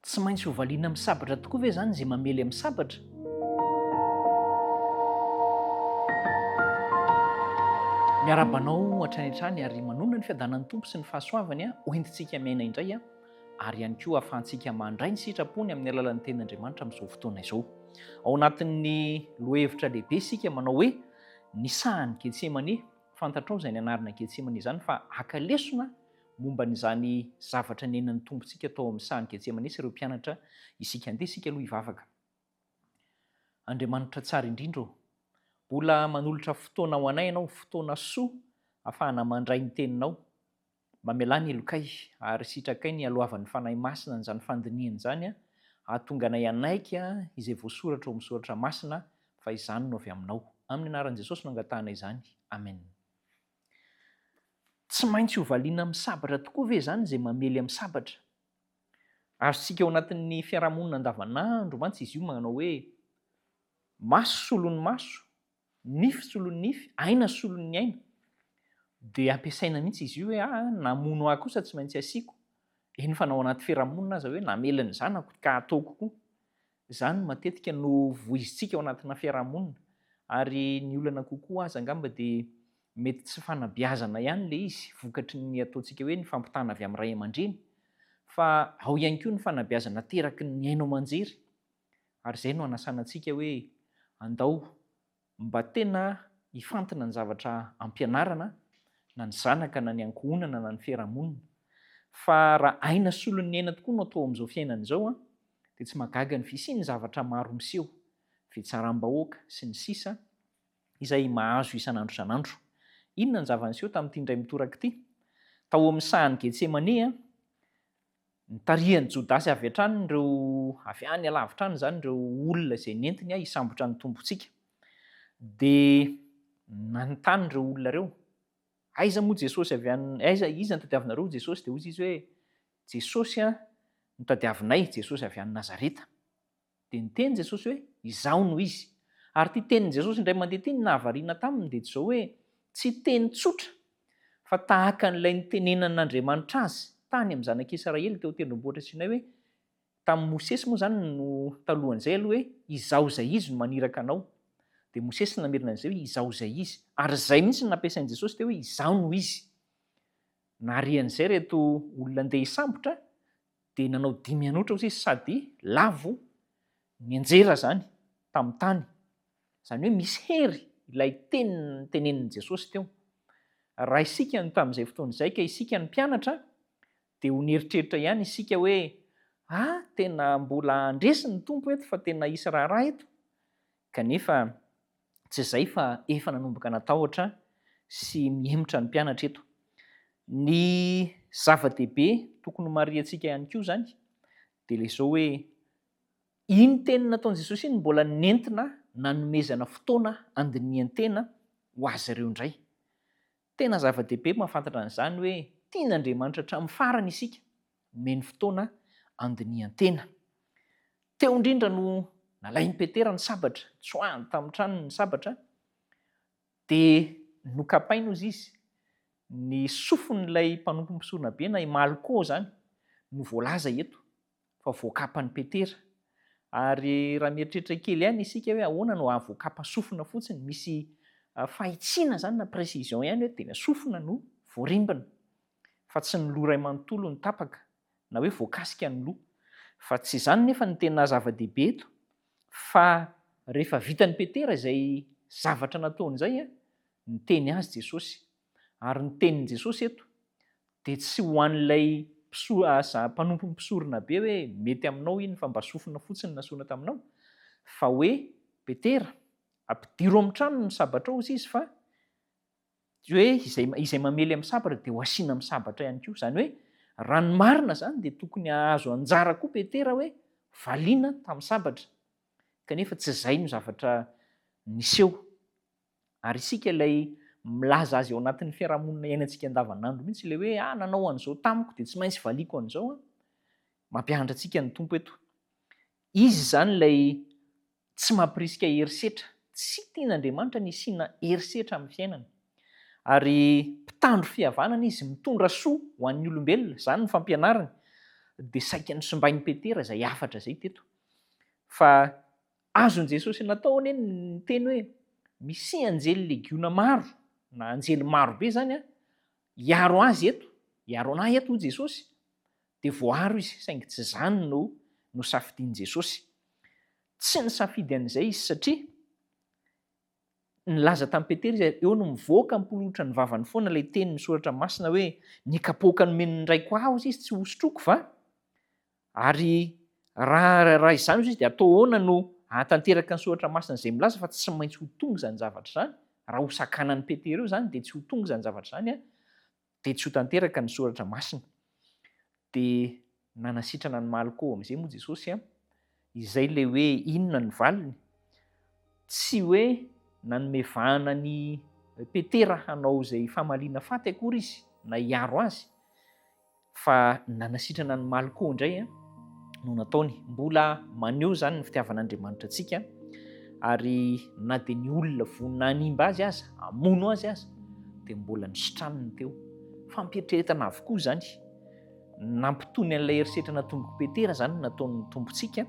Tsy maintsy hovaliana amin'ny sabatra tokoa ve izany izay mamely amin'ny sabatra? Miarahaba anao hatrany hatrany ary manonona ny fiadanan'ny Tompo sy ny fahasoavany hoentintsika miaina indray ary ihany koa ahafahantsika mandray ny sitrapony amin'ny alalan'ny teny Andriamanitra amin'izao fotoana izao. Ao anatin'ny lohevitra lehibe isika manao hoe ny sahan'i Getsemane, fantatrao izay ny anarana Getsemane izany fa haka lesona momba an'izany zavatra nenan'ny Tompontsika tao amin'ny sahan'i Getsemanesa ireo mpianatra isika. Andeha isika aloha hivavaka. Andriamanitra tsara indrindra ô, mbola manolotra fotoana ho anay Ianao, fotoana soa ahafahana mandray ny Teninao. Mamelà ny helokay, ary sitrakay ny haloavan'ny Fanahy Masina an'izany fandinihana izany, hahatonga anay hanaiky izay voasoratra ao amin'ny Soratra Masina fa izany no avy Aminao. Amin'ny anaran'i Jesosy no angatahana izany. Amena. Tsy maintsy hovaliana amin'ny sabatra tokoa ve izany izay mamely amin'ny sabatra? Azontsika ao anatin'ny fiarahamonina andavanandro mantsy izy io manao hoe, maso solon'ny maso, nify solon'ny nify, aina solon'ny aina. Dia ampiasaina mihitsy izy io hoe, ah, namono ahy kosa tsy maintsy asiako. Eny fa na ao anaty fiarahamonina aza hoe, namela ny zanako ka ataoko koa. Izany matetika no voizintsika ao anatina fiarahamonina ary ny olana kokoa aza angamba dia mety tsy fanabeazana ihany ilay izy vokatry ny ataontsika hoe ny fampitana avy amin'ny ray aman-dreny fa ao ihany koa ny fanabeazana ateraky ny haino aman-jery ary izay no anasana antsika hoe andao Mba tena hifantina ny zavatra ampianarana na ny zanaka na ny ankohonana na ny fiarahamonina. Fa raha aina solon'ny aina tokoa no atao amin'izao fiainana izao dia tsy mahagaga ny fisian'ny zavatra maro miseho, fitsaram-bahoaka sy ny sisa izay mahazo isan'andro isan'andro. Inona ny zava-niseho tamin'ity indray mitoraka ity tao amin'ny sahan'i Getsemane? Nitarihan'i Jodasy avy hatrany ireo, avy any alavitra any izany, ireo olona izay nentiny hisambotra ny Tompontsika. Dia nanontany ireo olona ireo, Aiza moa Jesosy avy any, aiza, iza no tadiavinareo ho Jesosy? Dia hoy izy hoe, Jesosy no tadiavinay, Jesosy avy any Nazareta. Dia niteny Jesosy hoe, Izaho no izy. Ary ity tenin'i Jesosy indray mandeha ity ny nahavariana taminy dia izao hoe, tsy teny tsotra, fa tahaka an'ilay nitenenan'Andriamanitra azy tany amin'ny zanak'i Israely teo an-tendrombohitra Sinay hoe, tamin'i Mosesy moa izany no talohan'izay aloha hoe, Izaho izay izy no maniraka anao. Dia Mosesy no namerina an'izay hoe, Izaho izay izy. Ary izay mihitsy no nampiasain'i Jesosy teo hoe, Izaho no izy. Naharian'izay ireto olona andeha hisambotra Dia nanao dimy hanoatra osa izy sady lavo nianjera izany tamin'ny tany. Izany hoe misy hery ilay teny notenenin'i Jesosy teo. Raha isika no tamin'izay fotoana izay ka isika no mpianatra dia ho nieritreritra ihany isika hoe a! tena mbola handresy ny Tompo eto fa tena hisy raharaha eto. Kanefa Tsy izay fa efa nanomboka natahotra sy mihemotra ny mpianatra eto. Ny zava-dehibe tokony homarihantsika ihany koa izany dia ilay izao hoe iny teny nataon'i Jesosy iny no mbola nentina nanomezana fotoana handinihan-tena ho azy ireo indray. Tena zava-dehibe mahafantatra an'izany hoe tian'Andriamanitra hatramin'ny farany isika, omeny fotoana handinihan-tena. Teo indrindra no nalain'i Petera ny sabatra, tsoahany tamin'ny tranony ny sabatra, dia nokapainy hozy izy, ny sofin'ilay mpanompo mpisoronabe na i Malko izany no voalaza eto. fa voakapan'i Petera. Ary raha mieritreritra kely ihany isika hoe ahoana no hahavoakapa sofina fotsiny, misy fahitsiana izany na précision ihany hoe tena sofina no voarimbina, fa tsy ny loha iray manontolo no tapaka, na hoe voakasika ny loha. Fa tsy izany anefa no tena zava-dehibe eto, fa rehefa vitan'i Petera izay zavatra nataony izay, niteny azy Jesosy Ary ny tenin'i Jesosy eto dia tsy ho an'ilay mpanompo mpisorona be hoe mety aminao iny fa mba sofina fotsiny nasorina taminao, fa hoe Petera, ampidiro amin'ny tranony ny sabatrao hoy izy fa hoe izay mamely amin'ny sabatra dia ho asiana amin'ny sabatra ihany koa. Izany hoe raha ny marina izany dia tokony hahazo anjara koa Petera hoe valiana tamin'ny sabatra, kanefa tsy izay no zavatra niseho. Ary isika ilay milaza azy ao anatin'ny fiarahamonina iainantsika andavanandro mihitsy ilay hoe ah nanao an'izao tamiko dia tsy maintsy valiako an'izao an. Mampianatra antsika ny Tompo eto. Izy izany ilay tsy mampirisika herisetra. Tsy tian'Andriamanitra ny hisiana herisetra amin'ny fiainana. Ary mpitandro fihavanana izy, mitondra soa ho an'ny olombelona, izany ny fampianarany. Dia saika nosimbain'i Petera izay hafatra izay teto. Fa Azon'i Jesosy natao anie ny niteny hoe misy anjely legiona maro, na anjely maro be izany hiaro azy eto, hiaro anah eto hoy Jesosy. Dia voaaro izy, saingy tsy izany no nosafidian'i Jesosy. Tsy nisafidy an'izay izy satria nilaza tamin'i Petera izy, eo no mivoaka am-polohotra ny vavany foana ilay tenin'ny soratra masina hoe, ny kapoaka nomen'ny Raiko aho izy tsy hosotroiko va? Ary raha raha izany izy dia atao ahoana no hahatanteraka ny soratra masina izay milaza fa tsy maintsy ho tonga izany zavatra izany? Raha ho sakanan'i Petera eo izany dia tsy ho tonga izany zavatra izany an! dia tsy ho tanteraka ny soratra masina. Dia nanasitrana an'i Malko amin'izay moa Jesosy an! Izay ilay hoe inona ny valiny? Tsy hoe nanome vahana an'i Petera hanao izay famaliana faty akory izy na hiaro azy. Fa nanasitrana ny maly koa indray no nataony. Mbola maneho izany ny fitiavan'Andriamanitra antsika, ary na dia ny olona vonona hanimba azy aza, hamono azy aza, dia mbola nisitraniny teo. Fampieritreretana avokoa izany. Nampitony an'ilay herisetra natombok'i Petera izany ny nataon'ny Tompontsika,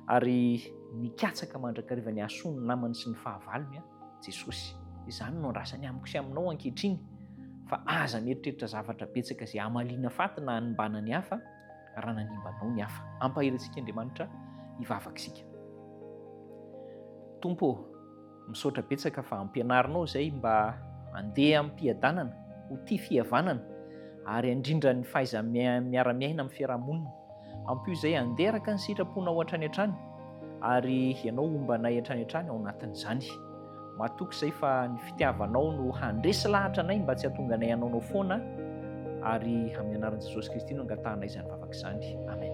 ary nikatsaka mandrakariva ny hahasoa ny namany sy ny fahavalony. Jesosy. Izany no andrasany amiko sy aminao ankehitriny, fa aza mieritreritra zavatra betsaka izay hamaliana faty na hanimbana ny hafa raha nanimba anao ny hafa. Ampahery antsika Andriamanitra hivavaka isika. Tompo ô, misaotra betsaka fa ampianarinao izay mba andeha ampiadanana ho tia fihavanana ary handrindra ny fahaiza miara-miaina amin'ny fiarahamonina. Ampio izay handeraka ny sitraponao hatrany hatrany, ary ianao homba anay hatrany hatrany ao anatin'izany. Matoky izay fa ny fitiavanao no handresy lahatra anay mba tsy hahatonga anay hanaonao foana, ary amin'ny anaran'i Jesosy Kristy no angatahanay izany vavaka izany. Amen.